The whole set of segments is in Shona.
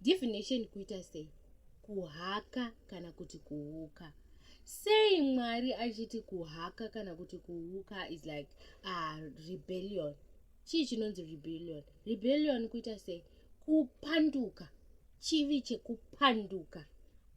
Divination kuita sei? Kuhaka kana kuti kuuka. Sei Mwari achiti kuhaka kana kuti kuuka is like uh, rebellion. Chii chinonzi rebellion? Rebellion kuita sei? Kupanduka. Chivi chekupanduka.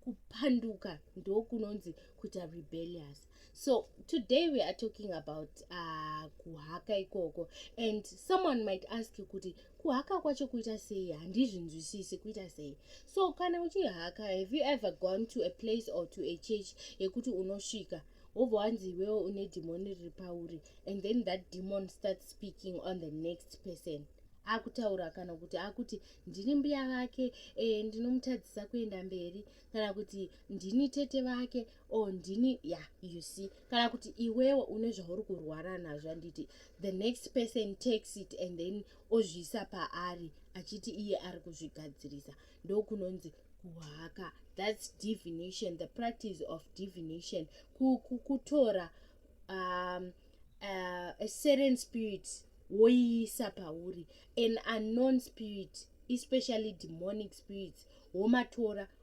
Kupanduka ndokunonzi kuita rebellious. so today we are talking about uh, kuhaka ikoko and someone might ask you kuti kuhaka kwacho kuita sei handizvinzwisisi kuita sei so kana uchihaka have you ever gone to a place or to a church yekuti unosvika wobva wanzi iwewo une dhimoni riri pauri and then that demon starts speaking on the next person akutaura kana kuti akuti ndini mbuya vake e, ndinomutadzisa kuenda mberi kana kuti ndini tete vake or oh, ndini ya yeah, you see kana kuti iwewo une zvauri kurwara nazvo handiti the next person takes it and then ozviisa paari achiti iye ari kuzvigadzirisa ndokunonzi kuhaka thats divination the practice of divination kutora um, uh, a certain spirit woiisa pauri an unknown spirit especially demonic spirits womatora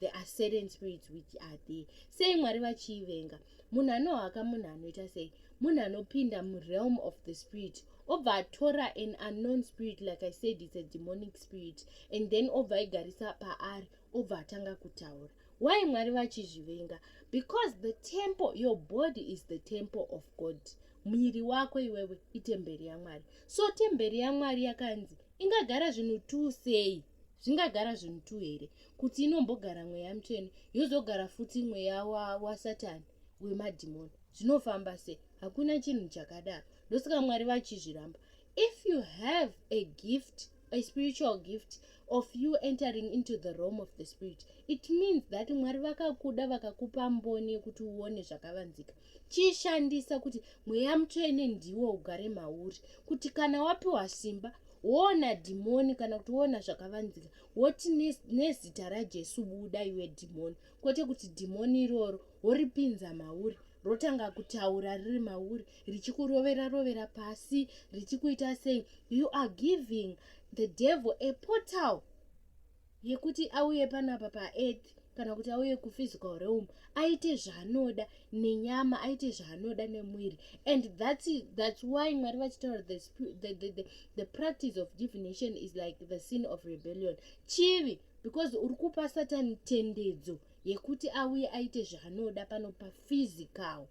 there are certain spirits which are there sei mwari vachiivenga munhu anohaka munhu anoita sei munhu anopinda murealm of the spirit obva atora an unknown spirit like i said its a demonic spirit and then obva aigarisa paari obva atanga kutaura why mwari vachizvivenga because the temple your body is the temple of god muviri wako iwewe itemberi yamwari so temberi yamwari yakanzi ingagara zvinhu tuu sei zvingagara zvinhu tu here kuti inombogara mweya mutsvene yozogara futi mweya wasatani wa wemadhimoni zvinofamba sei hakuna chinhu chakadaro ndosaka mwari vachizviramba if you have a gift a spiritual gift of you entering into the rome of the spirit it means that mwari vakakuda vakakupa mboni yekuti uone zvakavanzika chiishandisa kuti mweya mutsvene ndiwo ugare mauri kuti kana wapiwa simba woona dhimoni kana kuti woona zvakavanzika woti nezita rajesu buda iwe dhimoni kwete kuti dhimoni iroro woripinza mauri rotanga kutaura riri mauri richikurovera rovera pasi richikuita sei you are giving the devil a portal yekuti auye panapa paearth kana kuti auye kuphysical realm aite zvaanoda nenyama aite zvaanoda nemwiri and that's, that's why mwari vachitaura the, the, the, the, the practice of divination is like the sin of rebellion chivi because uri kupa satani tendedzo yekuti auye aite zvaanoda pano paphysical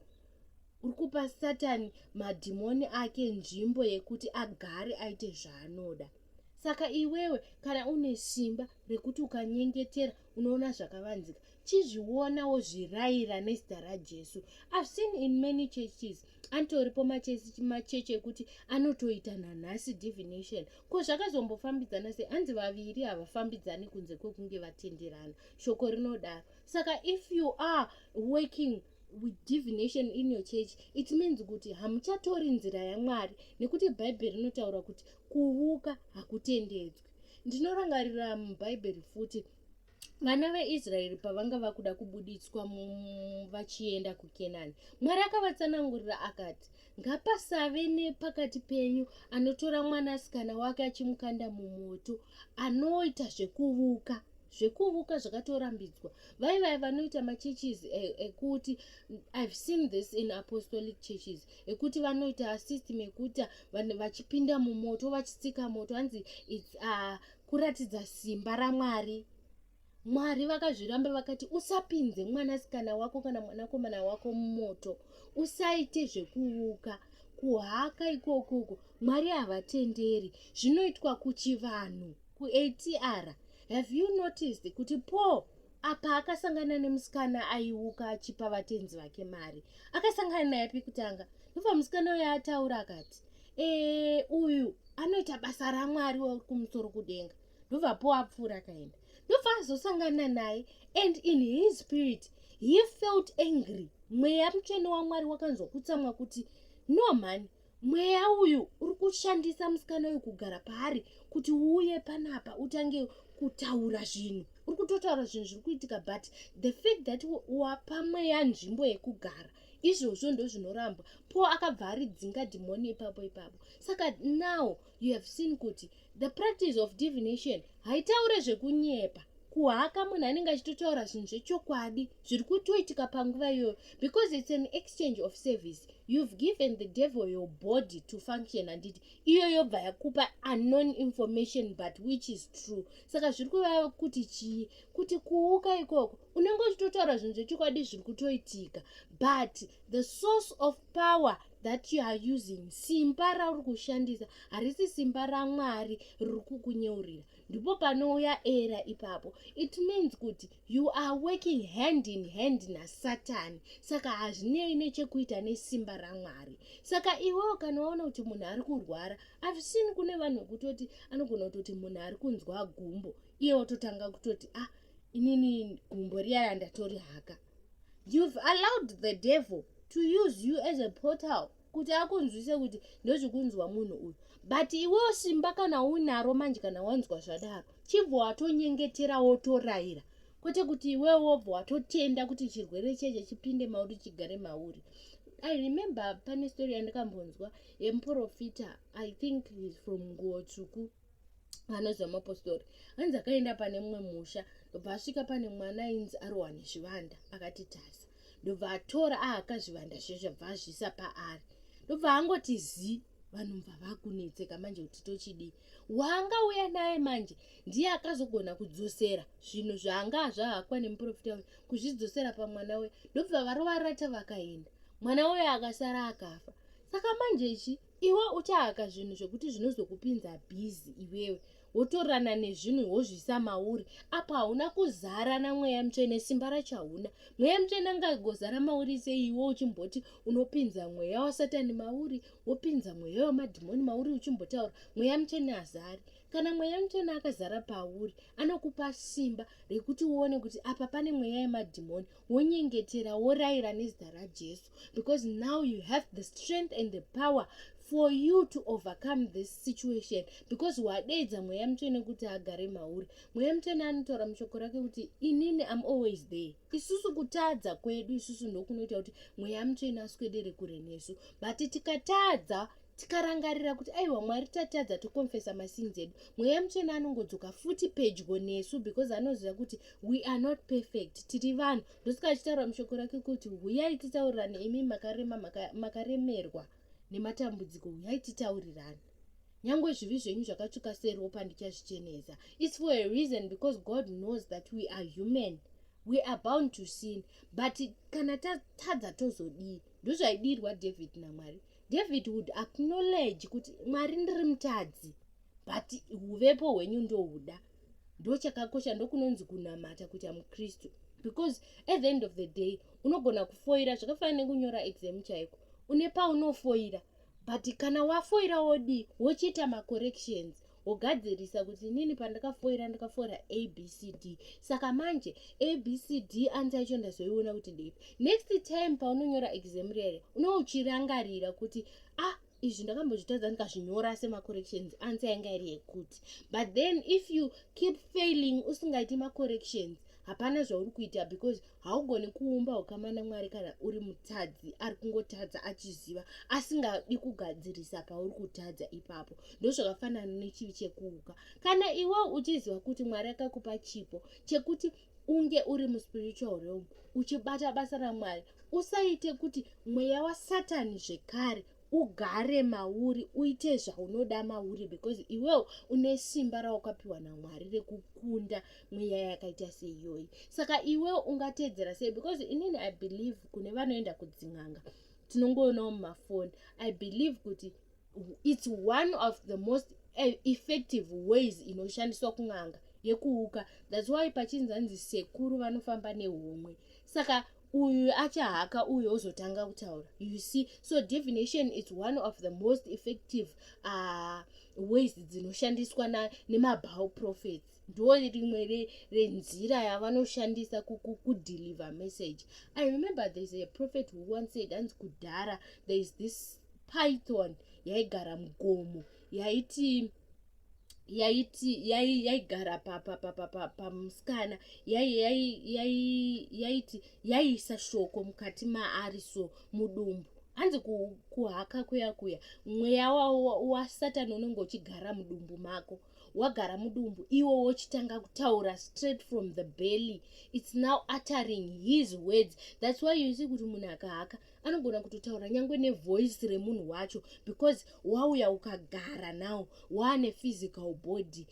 uri kupa satani madhimoni ake nzvimbo yekuti agare aite zvaanoda saka iwewe kana une simba rekuti ukanyengetera unoona zvakavanzika chizviona wozvirayira nezita rajesu i've seen in many churches atoripo machechi ekuti anotoita nanhasi divination ko zvakazombofambidzana sei hanzi vaviri havafambidzani kunze kwekunge vatenderana shoko rinodaro saka if you are working with divination in your church it means kuti hamuchatori nzira yamwari nekuti bhaibheri rinotaura kuti kuvuka hakutendedzwi ndinorangarira mubhaibheri futi vana veisraeri pavanga vakuda kubuditswa vachienda kukenani mwari akavatsanangurira akati ngapasave nepakati penyu anotora mwanasikana wake achimukanda mumoto anoita zvekuvuka zvekuvuka zvakatorambidzwa vai vai vanoita machurches eh, ekuti i've seen this in apostolic churches ekuti vanoita system ekuti vachipinda mumoto vachitsika moto hanzi its uh, kuratidza simba ramwari mwari vakazviramba vakati usapinze mwanasikana wako kana mwanakomana wako mumoto usaite zvekuuka kuhaka ikokoko mwari havatenderi zvinoitwa kuchivanhu kuatr have you noticed kuti paul apa akasangana nemusikana aiuka achipa vatenzi vake mari akasangana naye pi kutanga ndobva musikana uyo ataura akati ee uyu anoita basa ramwari wekumusoro kudenga ndobva paul apfuura akaenda ndobva azosangana naye and in his spirit he felt angry mweya mutsvene wamwari wakanzwa kutsamwa kuti no mhani mweya uyu uri kushandisa musikana uyu kugara paari kuti uuye panapa utange kutaura zvinhu uri kutotaura zvinhu zviri kuitika but the fact that wapa mweya nzvimbo yekugara izvozvo ndozvinorambwa po akabva aridzinga dhimoni ipapo ipapo saka now you have seen kuti the practice of divination haitaure zvekunyepa kuhaka munhu anenge achitotaura zvinhu zvechokwadi zviri kutoitika panguva iyoyo because its an exchange of service you've given the devil your body to function handiti iyo yobva yakupa unknown information but which is true saka zviri kuvava kuti chii kuti kuuka ikoko unenge uchitotaura zvinhu zvechokwadi zviri kutoitika but the source of power that you are using simba rauri kushandisa harisi simba ramwari riri kukunyeurira ndipo panouya era ipapo it means kuti you are working hand in hand nasatani saka hazvinei nechekuita nesimba ramwari saka iwewo kana waona kuti munhu ari kurwara avisini kune vanhu vekutoti anogona kutoti munhu ari kunzwa gumbo iye watotanga kutoti ah inini gumbo riya randatori haka you've allowed the devil to use you as a portal kuti akunzwise kuti ndozvikunzwa munhu uyu but iwewo simba kana unaro manje kana wanzwa zvadaro chibva watonyengetera wotoraira kwete kuti iwewo wobva watotenda kuti chirwere cheche chipinde mauri chigare mauri i remember pane story yandikambonzwa yemuprofita i think is from nguotsvuku anonzi vamapostori anzi akaenda pane mumwe musha ndobva asvika pane mwana ainzi arohwa nezvivanda akati tasa ndobva atora aaka zvivanda zviye zvabva azviisa paari ndobva angoti zii vanhu mva vakunetseka manje kuti tochidii waanga uya naye manje ndiye akazogona kudzosera zvinhu zvaanga azvahakwa nemuprofita uyu kuzvidzosera pamwana uya ndobva varovarata vakaenda mwana uya akasara akafa saka manje ichi iwe uchahaka zvinhu zvekuti zvinozokupinza bhizi iwewe wotorana nezvinhu wozviisa mauri apo hauna kuzara namweya mutsvene simba racho hauna mweya mutsvene angagozara mauri seiwe uchimboti unopinza mweya wasatani mauri wopinza mweya wemadhimoni mauri uchimbotaura mweya mutsvene hazari kana mweya mutsvene akazara pauri anokupa simba rekuti uone kuti apa pane mweya yemadhimoni wonyengetera worayira nezita rajesu because now you have the strength and the power for you to overcome this situation because wadeedza mweya mutsvene kuti agare mauri mweya mutsvene anotaura mushoko rake kuti inini am always there isusu kutadza kwedu isusu ndokunoita kuti mweya mutsvene aswedere kure nesu but tikatadza tikarangarira kuti aiwa mwari tatadza tokonfesa masinzi edu mweya mutsvene anongodzoka futi pedyo nesu because anoziva kuti we are not perfect tiri vanhu ndosika achitaura mushoko rake kuti huyai titaurirane imi makarema makaremerwa nematambudziko huyai titaurirane nyange zvivi zvenyu zvakatsvuka seropa ndichazvichenesa its for a reason because god knows that we are human we are bound to sin but kana tatadza tozodii ndozvaidirwa david namwari david would acknowledge kuti mwari ndiri mutadzi but uvepo hwenyu ndohuda ndochakakosha ndokunonzi kunamata kuita mukristu because at the end of the day unogona kufoira zvakafanana nekunyora exam chaiko une paunofoira but kana wafoira wodii wochiita macorrections wogadzirisa kuti inini pandakafoira ndakafoira abcd saka manje abcd anzi yacho ndazoiona kuti ndeipi next time paunonyora exam rere unouchirangarira kuti ah izvi ndakambozvitadza ndikazvinyora semacorrections ansa yanga iri yekuti but then if you keep failing usingaiti macorrections hapana zvauri kuita because haugoni kuumba ukama namwari kana uri mutadzi ari kungotadza achiziva asingadi kugadzirisa pauri kutadza ipapo ndozvakafanana nechivi chekuuka kana iwe uchiziva kuti mwari akakupa chipo chekuti unge uri muspiritual realm uchibata basa ramwari usaite kuti mweya wasatani zvekare ugare mauri uite zvaunoda mauri because iwewo une simba rawakapiwa namwari rekukunda mweya yakaita seiyoyi saka iwewo ungateedzera sei because inini i believe kune vanoenda kudzin'anga tinongoonawo mumafoni i believe kuti its one of the most eh, effective ways inoshandiswa kun'anga yekuuka thats why pachinzi hanzi sekuru vanofamba nehomwe saka uyu achahaka uyu ozotanga kutaura you see so divination is one of the most effective uh, ways dzinoshandiswa nemabhow prophets ndo rimwe renzira yavanoshandisa kudeliver message i remember there's a prophet who once said hanzi kudhara there is this python yaigara mugomo yaiti yaiti yaigara pamusikana yaiti yaiisa shoko mukati maari so mudumbu hanzi kuhaka kuya kuya mweya wasatani unenge uchigara mudumbu mako wagara mudumbu iwo wochitanga kutaura straight from the belly its now uttering his words thats why you see kuti munhu akahaka anogona kutotaura nyange nevoice remunhu wacho because wauya ukagara now waane physical body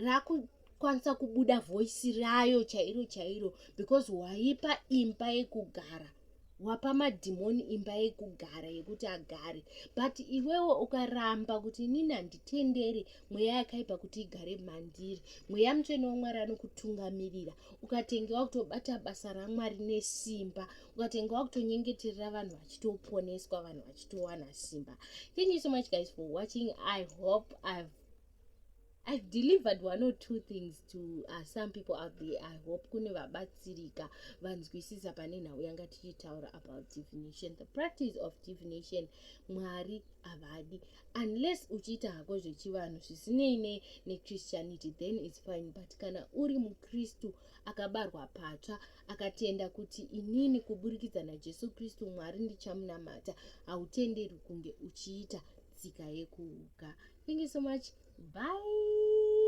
raku kwanisa kubuda voice rayo chairo chairo because waipa imba yekugara wapa madhimoni imba yekugara yekuti agare but iwewo ukaramba kuti inini handitendere mweya yakaipa kuti igare mandiri mweya mutsvene wamwari anokutungamirira ukatenge wakutobata basa ramwari nesimba ukatenge wakutonyengeterera vanhu vachitoponeswa vanhu vachitowana simba thank you so much guys for watching i hope ive I've delivered one or two things to uh, some people out there. I hope kune vabatsirika vanzwisisa pane nhau yanga tichitaura about divination. The practice of divination Mwari havadi unless uchiita hako zvechivanhu zvisinei nechristianity then its fine but kana uri mukristu akabarwa patsva akatenda kuti inini kuburikidza najesu kristu mwari ndichamunamata hautenderwi kunge uchiita tsika yekuuka thank you so much bye